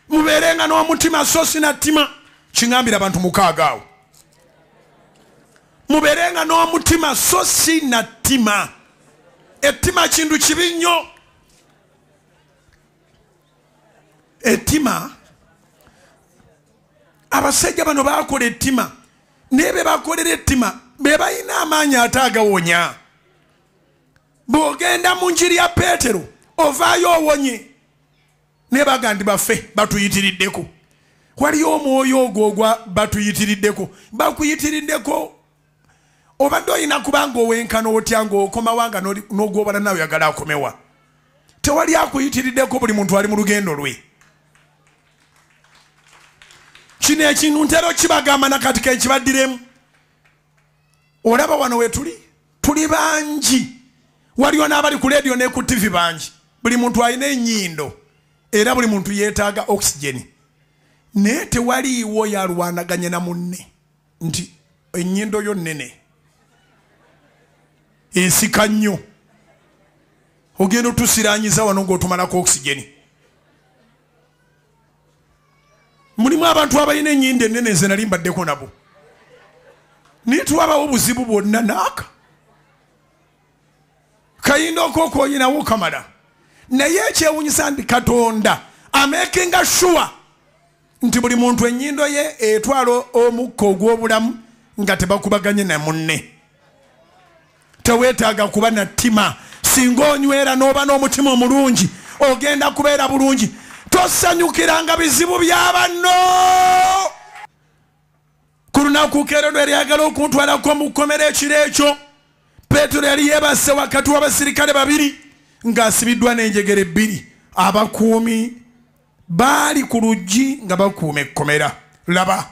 mubeerenga n'omutima so sina ttima kiŋambira abantu mukaaga awo mubeerenga n'omutima so si na ttima ettima kintu kibi nnyo ettima abasajja bano bakola ettima naye bebakolera ettima bebalina amaanyi ate agawonya bw'ogenda mu njiri ya peetero ovaayo owonye naye bagandi baffe batuyitiriddeko waliyo omwoyo ogwo ogwa batuyitiriddeko bakuyitiriddeko obadde olina kubanga owenkana otya ngaokomawa nga nogwobala nawe yagala akomewa tewali akuyitiriddeko buli muntu ali mu lugendo lwe kino ekintu ntera okibagamba nakati kenkibaddiremu olaba wano wetuli tuli bangi waliwo n'abali ku leediyo ne ku tivi bangi buli muntu alina enyindo era buli muntu yeetaaga oxygeni naye tewaliiwo yalwanaganye na munne nti enyindo yo nnene ensika nnyo ogenda otusiranyiza wano ngaotumalako oxygeni mulimu abantu abalina enyinda enene nze nali mbaddeko nabo naye twabawo obuzibu bwonna naaka kayinda okokoyinawo kamala naye ekyewunyisa nti katonda amakinga shuwa nti buli muntu enyindo ye etwala omukka ogw'obulamu nga tebakubaganye namunne teweetaaga kuba na ttima singa onywera n'oba n'omutima omulungi ogenda kubeera bulungi tosanyukiranga bizibu bya banno ku lunaku keero lwe lyagala okuntwalako mu kkomera ekiro ekyo peetero yali yeebase wakati w'abasirikale babiri ng'asibiddwa n'enjegere ebbiri abakuumi baali ku luggi nga bakuuma ekkomera laba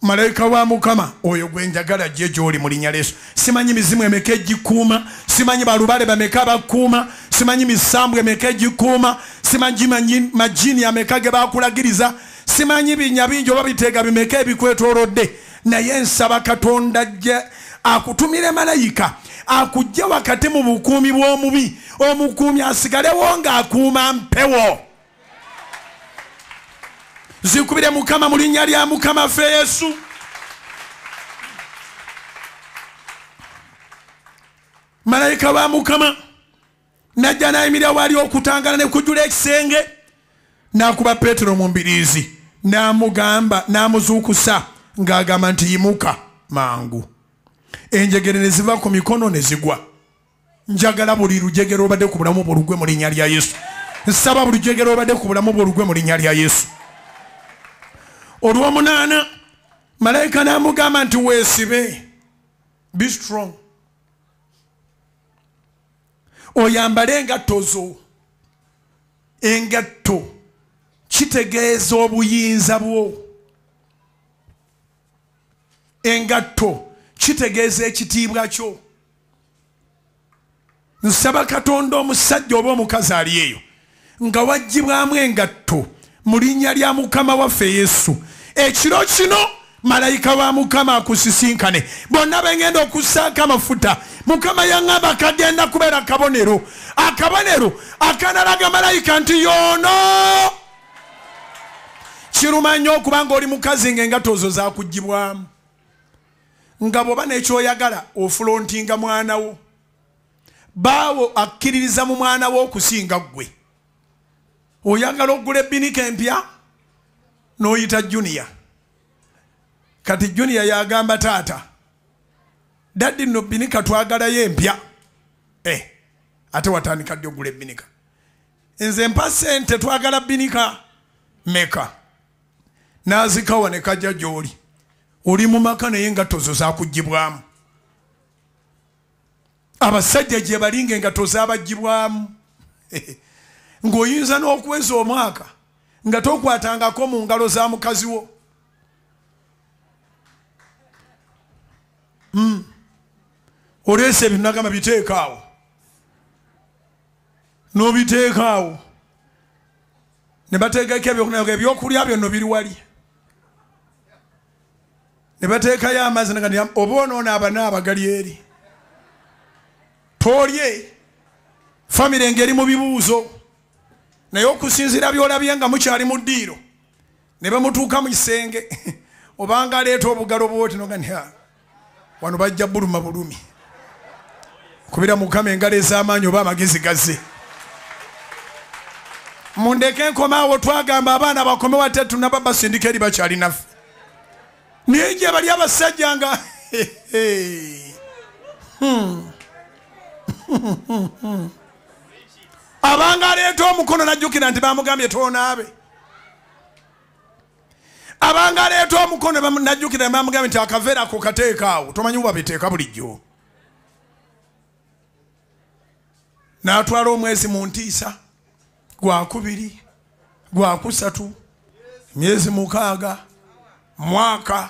malayika wa mukama oyo gwe njagala ajje gy'oli mu linnya lyesu simanyi mizimu emeka egikuuma simanyi balubale bameka bakuuma simanyi misambwa emeka egikuuma simanyi majini ameka ge bakulagiriza simanyi binya bingi oba biteega bimeka ebikwetoolodde naye nsaba katonda ajje akutumire malayika akujje wakati mu bukuumi bw'omubi omukuumi asigalewo ng'akuuma mpewo nzikubire mukama mu linnya lya mukama ffe yesu malayika wa mukama najja nayimirira waali okutangala ne kujula ekisenge n'akuba peetero mu mbiriizi n'amugamba n'amuzuukusa ng'agamba nti yimuka mangu enjegere ne ziva ku mikono ne zigwa njagala buli lujegero obadde ku bulamu bwo lugwe mu linnya lya yesu nsaba buli lujegero obadde ku bulamu bwo lugwe mu linnya lya yesu olwomunaana malayika n'amugamba nti weesibe be strong oyambale engatto zo engatto kitegeeza obuyinza bwo engatto kitegeeza ekitiibwa kyo nsaba katonda omusajja oba omukazi ali eyo nga wajjibwamu engatto mu linnya lya mukama waffe yesu ekiro kino malayika wa mukama akusisinkane bonna bengenda okussaako amafuta mukama yaŋamba kagenda kubeera akabonero akabonero akanalaga malayika nti yoono kiruma nnyo okubanga oli mukazi ng'engatto ozo zakugibwamu nga bwoba nekyoyagala ofulontinga mwana wo baawo akkiririza mu mwana wo okusinga ggwe oyagala okugula ebbinika empya n'oyita juniya kati juniya yagamba taata daddi nno bbinika twagalayo empya e ate watandika ddi okugula ebbinika nze mpa sente twagala bbinika meka n'azikawa ne kajja gy'oli oli mu maka naye engatto zo zakugibwamu abasajja gye bali nga engatto zabagibwamu ng'oyinza n'okuweza omwaka nga tokwatangako mu ngalo za mukazi wo hmm. oleese ebinagamba biteekaawo nobiteekaawo ne bateekako ebyokunaga ebyokulya byonno biri wali ne bateekayo amazzi nga oba onoona abana abagali eri tolye famire ngeri mu bibuuzo naye okusinziira byolabye nga mukyali mu ddiiro ne bamutuuka mu kisenge obanga aleeta obugalo bwoti noga ni wano bajja buluma bulumi kubira mukama engalo ez'amaanyi oba amagezi gaze mundeke nkomaawo twagamba abaana bakome wate tunaba basindika eri bakyali naffe naye gye bali abasajja nga hmm. abanga aleeta omukono najjukira nti bamugambye tonaabe abanga aleeta omukono najjukira bamugambye nti akaveera ako kateekaawo tomanyi bubabiteeka bulijjo n'atwala omwezi mu ntiisa gwakubiri gwakusatu myezi mukaaga mwaka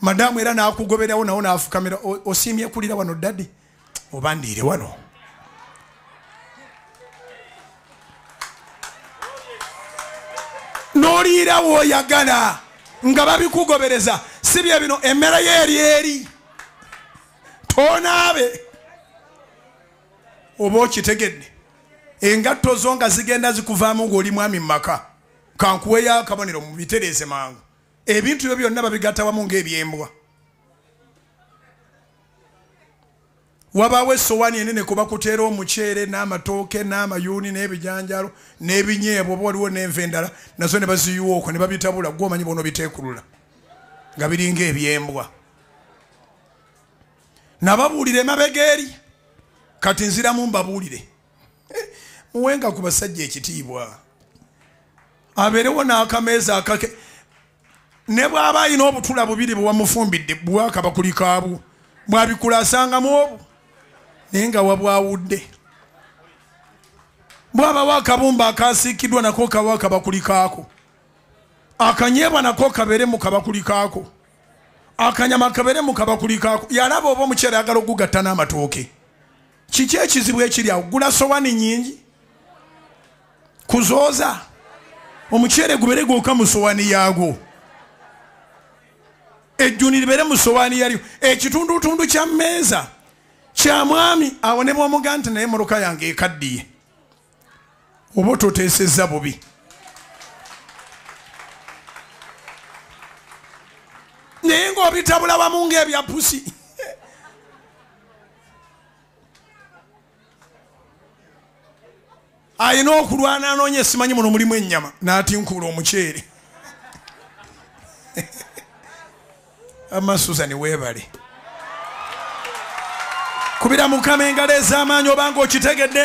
madamu era nakugoberawo nawo nafukamira osiimye kulira wano dadi oba ndiire wano noliira woyagala nga babikugobereza si bye bino emmere yo eri eri tonaabe oba okitegedde engatto zo nga zigenda zikuvaamu ng'oli mwami mu maka kankuweyo akabonero mubitereeze mangu ebintu byo byonna babigatta wamu ng'ebyembwa wabaawo essowaani enene kuba kuteera omuceere n'amatooke n'amayuuni n'ebijanjalo n'ebinyeebwa oba waliwo n'enva endala nazo ne baziyiwa okwo ne babitabula gwe omanyi bona obiteekulula nga biringa ebyembwa nababuulira emabega eri kati nziramu mbabuulire muwenga ku basajja ekitiibwa abeerewo n'akameeza akake ne bw'aba alina obutula bubiri bwewamufumbidde bwakaba kuli kaabu bwabikula asangamu obu naye nga wabwawudde bwabawo akabumba akasiikiddwa nako kawo akabakuli kaako akanyeebwa nako kabeere mu kabakuli kaako akanyama kabeere mu kabakuli kaako yalaba oba omukyala ayagala okugatta n'amatooke kiki ekizibu ekiri awo gula sowani nyingi kuzooza omuceere gubere gwonka mu sowani yaagwo ejjuni libere mu sowani yalyo ekitundutundu kya mmeeza kya mwami awonebwa omuga nti naye muluka yange ekaddiye oba ototeesezza bubi naye ngaobitabula wamu ngaebya pusi alina okulwana anoonya esimanyi muno mulimu ennyama n'atinkuula omuceere ama susan webale kubira mukama engalo ez'amaanyi obanga okitegedde